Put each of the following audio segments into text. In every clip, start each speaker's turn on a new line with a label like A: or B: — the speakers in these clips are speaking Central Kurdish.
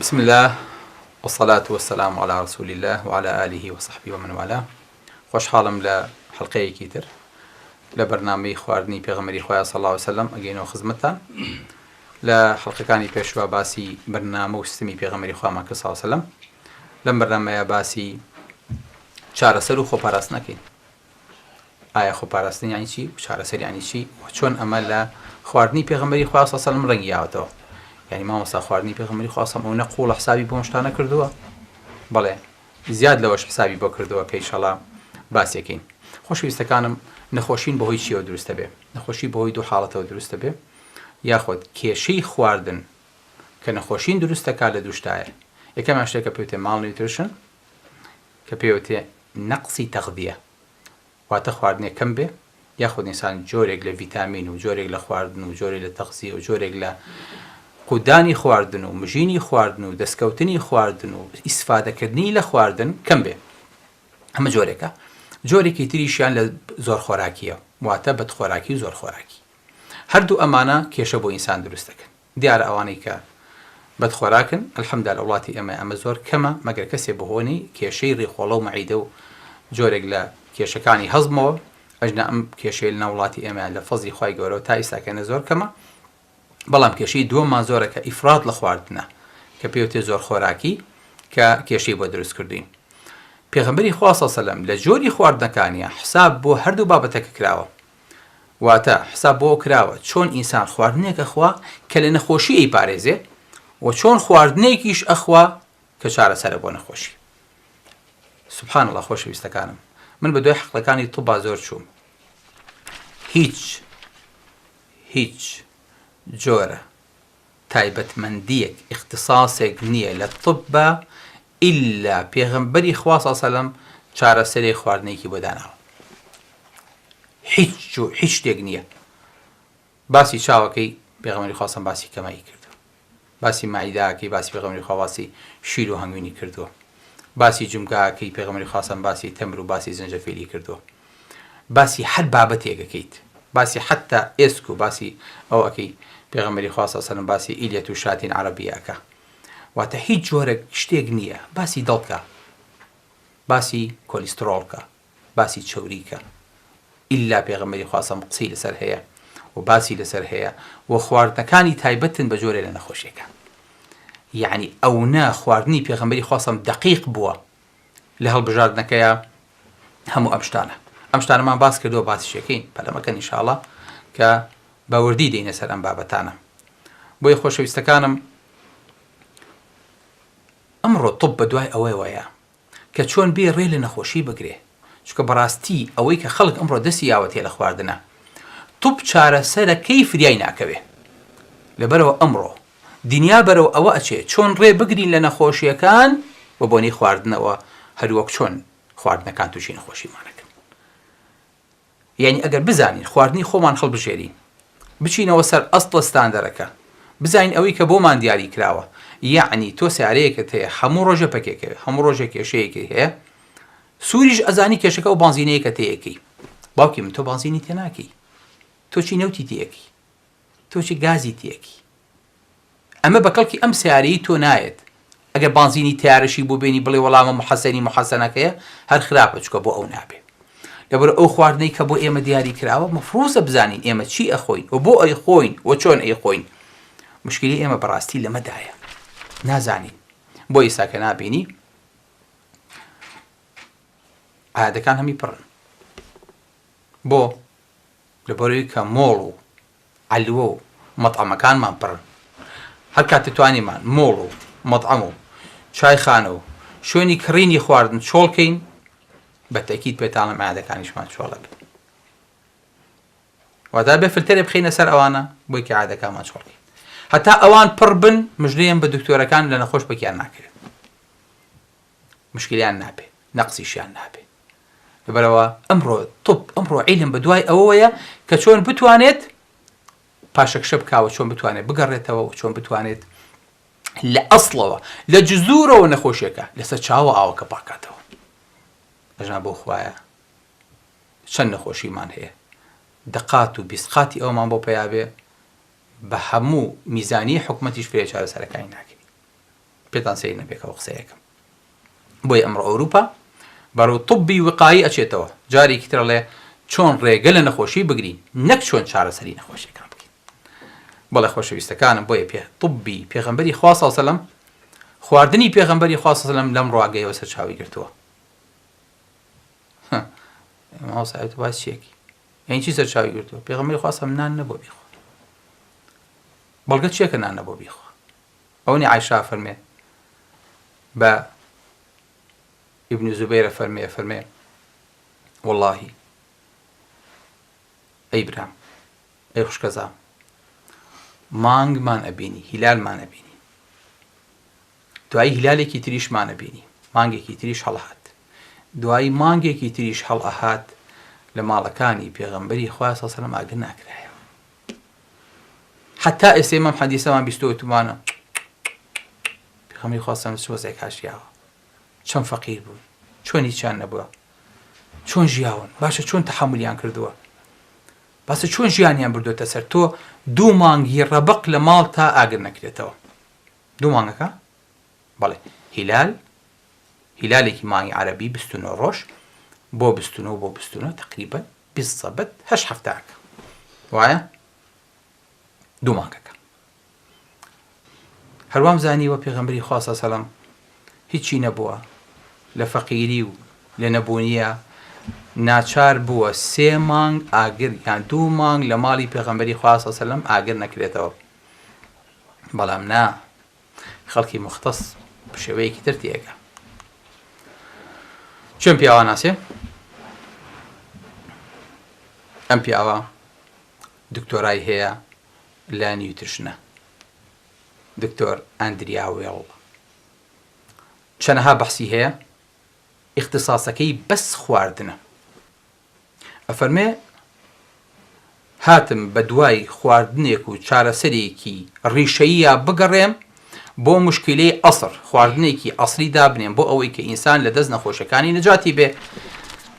A: بسم اللە والصلاة والسلام علی رسول اللە وعلی آله وصحبه ومن والاه خۆشحاڵم لە حەڵقەیەکی تر لە بەرنامەی خواردنی پێغەمەری خوایە صلی اللە علیه وسلم ئەگەینەوە خزمەتتان لە حەڵقەکانی پێشوە باسی بەرنامە و سیستمی پێغەمەری خوامان کرد صلی اللە علیه وسلم لەم بەرنامەیە باسی چارەسەر و خۆپاراستنەکەین ئایا خۆپاراستن یانی چی و چارەسەر یانی چی و چۆن ئەمە لە خواردنی پێغەمبەری خوا صلی الله علیه و یاوەتەوە یعنی مامۆستا خواردنی پێغەمبەری خوا صلی الله قوڵە حسابی بۆ شتانە کردووە بەڵێ زیاد لەوەش حسابی بۆ کردووە کە ئیشەڵا باسێکین خۆشویستەکانم نەخۆشین بەهۆی چیەوە دروستە بێ نەخۆشی بەهۆی دوو حاڵەتەوە دروستە بێ یاخود کێشەی خواردن کە نەخۆشین دروستەکە لە دووشتایە یەکەمیان شتێکە پێوتێ ماڵ نیوترشن کە پێوترێ نەقسی تەغذیە واتە خواردنێ کەم بێ یاخود ئینسان جۆرێک لە ڤیتامین و جۆرێک لە خواردن و جۆرێک لە تەغزیە و جۆرێک لە قودانی خواردن و مژینی خواردن و دەستکەوتنی خواردن و ئیسفادەکردنی لە خواردن کەم بێ ئەمە جۆرێکە جۆرێکی تریشیان لە زۆر خۆراکیە واتە بەد خۆراکی و زۆر خۆراکی هەردوو ئەمانە کێشە بۆ ئینسان دروستەکەن دیارە ئەوانەی کە بەد خۆراکن الحمدا لە وڵاتی ئێمە ئەمە زۆر کەمە مەگەر کەسێ بەهۆنەی کێشەی ڕیخۆڵەو مەعیدە و جۆرێک لە کێشەکانی هەزمەوە ئەژنە ئەم کێشەی لە ناو وڵاتی ئێمە لە فەزلی خوای گەورەوە تا ئیستا کەنە زۆر کەمە بەڵام کێشەی دووەممان زۆرە کە ئیفراد لە خواردنە کە پێوتێ زۆر خۆراکی کە کێشەی بۆ دروست کردوین پێغمبەری خوا صلی الله علیه و سلم لە جۆری خواردنەکانیە حساب بۆ هەردوو بابەتەکە کراوە واتە، حساب بەوە کراوە چۆن ئینسان خواردنێک ئەخوا کە لە نەخۆشی ئەیپارێزێ و چۆن خواردنێکیش ئەخوا کە چارەسەرە بۆ نەخۆشی. سبحان اللە خۆشەویستەکانم من بە دوای حەقلەکانی طبا زۆر چووم هیچ هیچ جۆرە تایبەتمەندیەک ئیختساسێک نیە لە طبا ئیلا پێغەمبەری خوا صلی سەلەم چارەسەرێ خواردنێکی بۆ داناوە هیچ و هیچ شتێک نیە باسی چاوەکەی پێغەمبەری خوا سەم باسی کەمایی کردو باسی مەعیداکەی باسی پێغەمبەری خوا باسی شیر و هەنگوینی کردووە باسی جمگاکەی پێغەمبەری خوا سەم باسی تەمر و باسی زنجەفیلی کردووە باسی هەر بابەتێک ئەکەیت باسی حەتا ئێسک و باسی ئەو ئەکەی پێغەمبەری خوا سەڵ سەلم باسی ئیلیەت و شاتین عەڕەبیە ئەکا واتە هیچ جۆرەک شتێک نییە باسی دڵ کە باسی کۆلیستڕۆڵ کە باسی چەوری کە ئیلا پێغەمبەری خوا سەم قسەی لەسەر هەیە و باسی لەسەر هەیە و خواردنەکانی تایبەتن بە جۆرێ لە نەخۆشیەکان یعنی ئەونە خواردنی پێغەمبەری خوا سەم دەقیق بووە لە هەڵبژاردنەکەیا هەموو ئەم شتانە ئەم شتانەمان باس کردو باسیشەکەین پەلەمەکە نیشاڵە کە بەوردی دێنە سەر ئەم بابەتانە بۆی خۆشەویستەکانم ئەمڕۆ طب بە دوای ئەوەی وایە کە چۆن بێ ڕێ لە نەخۆشی بگرێ چکە بەڕاستی ئەوەی کە خەڵک ئەمڕۆ دەستی یاوەتێ لە خواردنە طب چارەسەرەکەی فریای ناکەوێ لەبەرەوە ئەمڕۆ دنیا بەرەو ئەوە ئەچێت چۆن ڕێ بگرین لە نەخۆشیەکان بە بۆنەی خواردنەوە هەروەک چۆن خواردنەکان توشی نەخۆشیمان ئەکەن یانی ئەگەر بزانین خواردنی خۆمان هەڵبژێرین بچینەوە سەر ئەستڵە ستاندەرەکە بزانین ئەوەی کە بۆمان دیاری کراوە یعنی تۆ سارەیەکت هەیە هەموو ڕۆژە پەکێکەوێ هەموو ڕۆژە کێشەیەکی هەیە سووریش ئەزانی کێشەکە و بانزینەیەکە تەیەکەی باوکی من تۆ بانزینی تێناکەی تۆ چی نەوتی تێەکەی تۆ چ گازی تیەکی. ئەمە بە کەڵکی ئەم سەیارەیی تۆ نایەت ئەگەر بانزینی تەیارەشی بۆ بێنی بڵێ وەڵا مەم حەسەنی موحەسەنەکەیە هەر خراپە چکە بۆ ئەو نابێ لەبەر ئەو خواردنەی کە بۆ ئێمە دیاری کراوە مەفروزە بزانین ئێمە چی ئەخۆین و بۆ ئەیخۆین و چۆن ئەیخۆین مشکلی ئێمە بەڕاستی لەمەدایە نازانین بۆ ئیسا کە نابینی عادەکان هەمی پڕن بۆ لەبەرئەوەی کە مۆڵ و عەلوە و مەتعەمەکانمان پڕن، هەر کاتێ توانیمان مۆڵ و مەتعەم و چایخانە و شوێنی کڕینی خواردن چۆڵ کەین، بە تەئکید پێتانڵێم عەیادەکانیشمان چۆڵ ئەبێ. واتە ئەبێ فلتەرێ بخەینە سەر ئەوانە بۆی کە عەیادەکانمان چۆڵ کەین. هەتا ئەوان پڕ بن مژدەیەم بە دکتۆرەکان لە نەخۆش پەکیان ناکەوێ. مشکلیان نابێ نەقسیشیان نابێ لەبەرەوە ئەمڕۆ طب ئەمڕۆ عیلم بە دوای ئەوەیە کە چۆن بتوانێت پاشەکشە بکوە چۆن بتوانێت بگەڕێتەوە و چۆن بتوانێت لە ئەسڵەوە لە جزورەوە نەخۆشیەکە لەسەر چاوە ئاوەکە پاکاتەوە ئەژنا بۆ خوایە چەند نەخۆشیمان هەیە دەقات و بیسقاتی ئەومان بۆ پیاابێ بە هەموو میزانی حکوومەتیش فرێ چارەسەرەکانی ناکەین پێتان سەیر نەبێ کە قسەی ئەکەم. بۆیە ئەمڕۆ ئەوروپا بەرەو طوبی وقایی ئەچێتەوە، جارێکی تر ئەڵێ چۆن ڕێگە لە نەخۆشی بگرین نەک چۆن چارەسەری نەخۆشیەکان بکەین. بەڵێ خۆشەویستەکانم بۆیە پێ طوبی پێغەمبەری خوا صلی سلم خواردنی پێغەمبەری خوا صلی سلم لەم ڕاگەیەوە سەرچاوی گرتووە. ماوەسایەت باس چیەکی یعنی چی سەرچاوی گرتووە پێغەمبەری خوا سلم نان نەبوو بیخوا. بەڵگە چیەکە نان نەبوو بیخوا. ئەونی عایشە ئەفەرمێ بە ابن زبیر ئەفەرمێ ئەفەرمێ وەڵاهی ئەی برام ئەی خوشکەزام مانگمان ئەبینی هیلالمان ئەبینی دوایی هیلالێکی تریشمان ئەبینی مانگێکی تریش هەڵهات دوایی مانگێکی تریش هەڵ ئەهات لە ماڵەکانی پێغەمبەری خوا سەسەرم ئاگر ناکرایە حەتا ئێستەی مەم حەدیسەمان بیستوە وتمانە پێغەمبەری خوا سەلام چ وەزعێک هاشیاوە چەند فەقیر بوون چۆن هیچیان نەبووە چۆن ژیاون باشە چۆن تحملیان کردووە بەسە چۆن ژیانیان بردوێتە سەر تۆ دوو مانگی ڕەبق لە ماڵ تا ئاگر نەکرێتەوە دوو مانگەکە بەڵێ هیلال هیلالێکی مانگی عربی بستونەوە ڕۆژ بۆ بستونەوە بۆ بستونەوە تقریبن بیست سەبت هەشت هەفتەکە وایە دوو مانگەکە هەروام زانیوە پێغەمبەری خوا سەلام هیچی نەبووە لە فەقیری و لە نەبوونیە ناچار بووە سێ مانگ ئاگر یان دوو مانگ لە ماڵی پێغەمبەری خواسە سەلم ئاگر نەکرێتەوە بەڵام نا خەڵکی موختەس بشێوەیەکی تر تێگە چۆن پیاواناسێ ئەم پیاوە دکتۆرای هەیە لە نیوترشنە دکتۆر ئەندریا وێڵ چەنەها بەحسی هەیە ئیختصاسەکەی بەس خواردنە ئەفەرمێ هاتم بە دوای خواردنێک و چارەسەرێکی ڕیشەییا بگەڕێم بۆ مشکیلەی ئەسر خواردنێکی ئەسری دابنێم بۆ ئەوەی کە ئینسان لە دەست نەخۆشەکانی نەجاتی بێ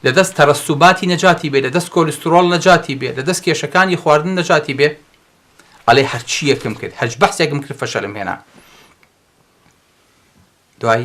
A: لە دەست تەرەسوباتی نەجاتی بێ لە دەست کۆلیسترۆڵ نەجاتی بێ لە دەست کێشەکانی خواردن نەجاتی بێ ئەڵێ هەرچیەکم کرد هەرج بەحسێکم کرد فەشەلم هێنا دوای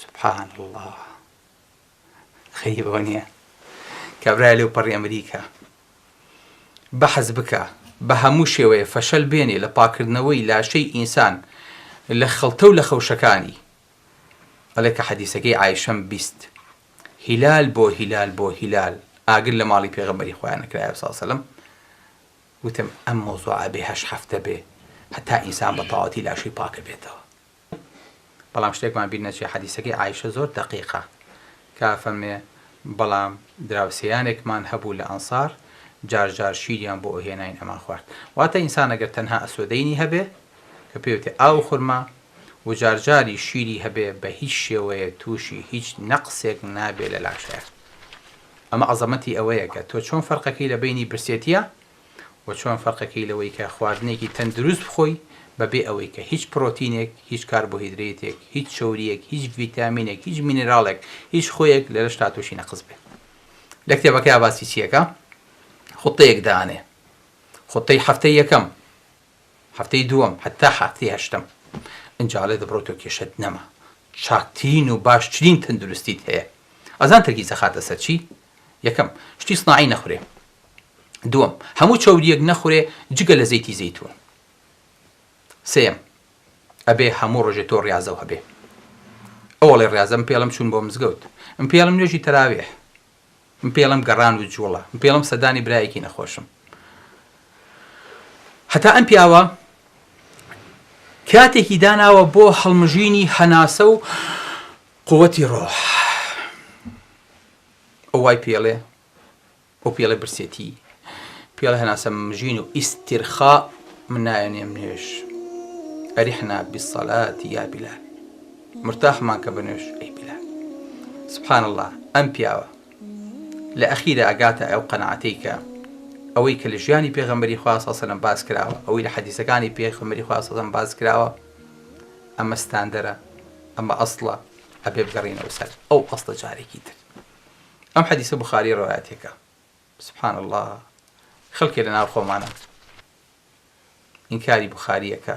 A: سبحان اللە غەریبەوە نیە کابرای لەوپەڕی ئەمریکا بەحس بکە بە هەموو شێوەیە فەشەل بێنێ لە پاکردنەوەی لاشەی ئینسان لە خەڵتە و لە خەوشەکانی ئەڵێ کە حەدیسەکەی ئایشەم بیست هیلال بۆ هیلال بۆ هیلال ئاگر لە ماڵی پێغەمبەری خۆیان نەکرایە ساسەلم وتم ئەم مۆزوعە بێ هەش هەفتە بێ هەتا ئینسان بە تەواتی لاشەی پاکە بێتەوە بەڵام شتێکمان بیر نەچێ حەدیسەکەی عائیشە زۆر دەقیقە کە ئەفەرمێ، بەڵام دراوسێیانێکمان هەبوو لە ئەنسار جار جار شیریان بۆ ئەهێناین ئەمان خوارد. واتە ئینسان ئەگەر تەنها ئەسوەدەینی هەبێ کە پێی وتێ ئاو و خورما و جار جاریش شیری هەبێ بە هیچ شێوەیەک تووشی هیچ نەقسێک نابێ لە لاشەیا. ئەمە عەزەمەتی ئەوەیە کە تۆ چۆن فەرقەکەی لە بەینی برسێتیە و چۆن فەرقەکەی لەوەی کە خواردنێکی تەندروست بخۆی بەبێ ئەوەی کە هیچ پرۆتینێک، هیچ کاربۆهیدرەیتێک، هیچ چەورییەک، هیچ ڤیتامینێک، هیچ مینێراڵێک، هیچ خوێیەک لە لەشتا تووشی نەقس بێ. لە کتێبەکەیا باسی چییەکا؟ خوتەیەک دانێ. خوتەی هەفتەی یەکەم هەفتەی دووەم هەتا هەفتەی هەشتەم ئنجا ئەڵێ دەبڕۆیتەوە کێشەت نەما چاکترین و باشترین تەندروستیت هەیە ئەزان تەرکیز ئەخاتە سەر چی یەکەم شتی سناعی نەخورێ دووەم هەموو چەوریەک نەخورێ جگە لە زەیتی زەیتون سێم ئەبێ هەموو ڕۆژێ تۆ ڕاضەو هەبێ ئەوڵێ ڕاضەم پێڵم چوون بۆ مزگەوت ئەم پێڵم نوێژی تەراوێ من پێی ئەڵێم گەڕان و جووڵە. من پێی ئەڵێم سەردانی برایەکی نەخۆشم. هەتا ئەم پیاوە کاتێکی داناوە بۆ هەڵمژینی هەناسە و قووتی ڕۆح. ئەو وای پێڵێ ئەو پێڵێ برسێتی پێڵێ هەناسە مژین و ئیسترخا من نایەنێم نوێش. ئەریحنا بیسەلات یا بیلال. مرتاح مان کە بنوش ئەی بلە. سبحان اللە ئەم پیاوە لە ئەخیرا ئەگاتە ئەو قەناعەتەی کە ئەوەی کە لە ژیانی پێغەمبەری خوا صلی سەلەم باس کراوە ئەوەی لە حەدیسەکانی پێغەمبەری خوا صلی سەلەم باس کراوە ئەمە ستاندەرە ئەمە ئەسڵە ئەبێ بگەڕینەوە سەر ئەو ئەسڵە جارێکی تر ئەم حەدیسە بخاری ڕوایەتێکە سبحان الله خەڵکێ لە ناو خۆمانە ئینکاری بخاریەکە